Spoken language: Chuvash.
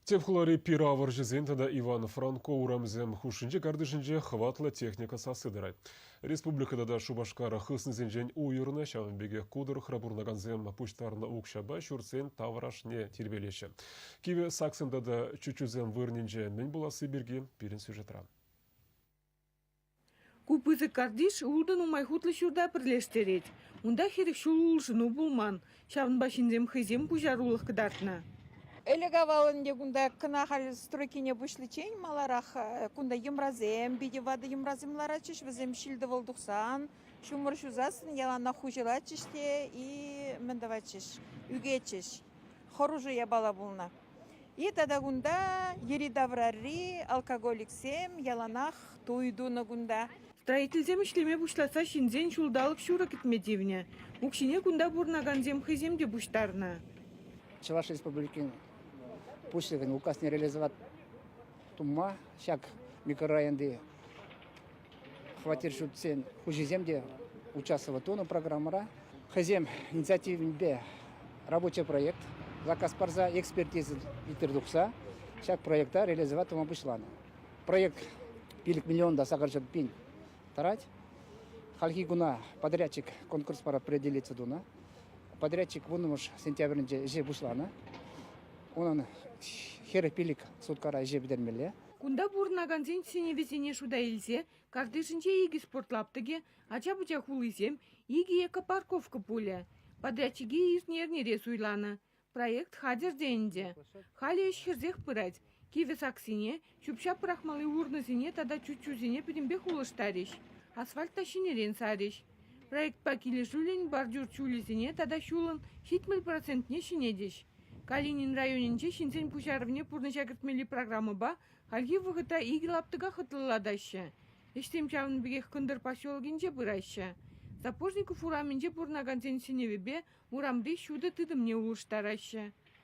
Тӗп хулари пир авӑрҫӑсен тата Иван-Франко урамӗсем хушшинчи картишӗнче хӑватлӑ техника сасси тӑрать. Республика тата Шупашкар хыснисенчен уйӑрнӑ, ҫавӑн пекех ку тӑрӑхра пурӑнакансем пуҫтарнӑ укҫапа ҫуртсен таврашне тирпейлеҫҫӗ. Кивӗ саксем тата чуччусем вырӑнӗнче мӗн пуласси пирки пирӗн сюжетра. Ку пысӑк картиш ултӑ нумай хутлӑ ҫурта пӗрлештерет. Унта хирӗҫ ҫул улшӑну пулман, ҫавӑнпа ҫынсем хӑйсем пуҫарулӑх кӑтартнӑ. Ӗлӗк-авал ӗнтӗ кунта кӑна халь стройкине пуҫличчен маларах кунта йӑмрасем, питӗ ватӑ йӑмрасем ларатчӗҫ. Вӗсем ҫил-тӑвӑл тухсан ҫумӑр ҫусассӑн яланах хуҫӑлатчӗҫ те и мӗн тӑватчӗҫ, ӳкетчӗҫ. Хӑрушӑ япала пулнӑ. И тата кунта йӗри-таврари алкоголиксем яланах туй тунӑ кунта. Строительсем ӗҫлеме пуҫласа ҫынсен ҫулталӑк ҫурӑ кӗтме тивнӗ. Укҫине кунта пурӑнакансем хӑйсем те пуҫтарнӑ. Чӑваш Республикин Пуҫлӑхӗн Указне релизоват тумма ҫак микрорайонти хваттер ҫуртсен хуҫисем те участвовать тунӑ программӑра. Хӑйсем инициативӗпе рабочий проект заказ парса экспертиза илтер тухса ҫак проекта реализовать тума пуҫланӑ. Проект пилӗк миллион та сакӑрҫӑт пин тӑрать. Хальхи куна подрядчик конкурс пара определиться тунӑ. Подрядчик вуннӑмӗш сентябрӗнче ӗҫе пуҫланӑ. унӑн хӗрӗ пилӗк суткара ӗҫе пӗтермелле. Кунта пурӑнакансен сӗнӗвӗсене шута илсе картишӗнче икӗ спорт лаптӑкӗ, ача-пӑча хулисем, икӗ эко-парковка пулӗ. Подрядчике иртнӗ эрнере суйланӑ проект хатӗр те ӗнтӗ. Халӗ ӗҫ хӗрсех пырать, кивӗ саксене Ҫӳп-ҫап пӑрахмалли урнӑсене тата чуччусене пӗтӗмпех улӑштарӗҫ, асфальт та ҫӗнӗрен сарӗҫ. Проектпа килӗшӳллӗн бордюр ҫулӗсене тата ҫулӑн ҫитмӗл процентне ҫӗнетӗҫ. Калинин районӗнче ҫынсен пуҫарӑвне пурнӑҫа кӗртмелли программӑпа хальхи вӑхӑтра икӗ лаптӑка хӑтлӑлатаҫҫӗ. Ӗҫсем ҫавӑн пекех кӑнтӑр поселокӗнче пыраҫҫӗ. Сапожников урамӗнче пурӑнакансен сӗнӗвӗпе урамри ҫутӑ тытӑмне улӑштараҫҫӗ.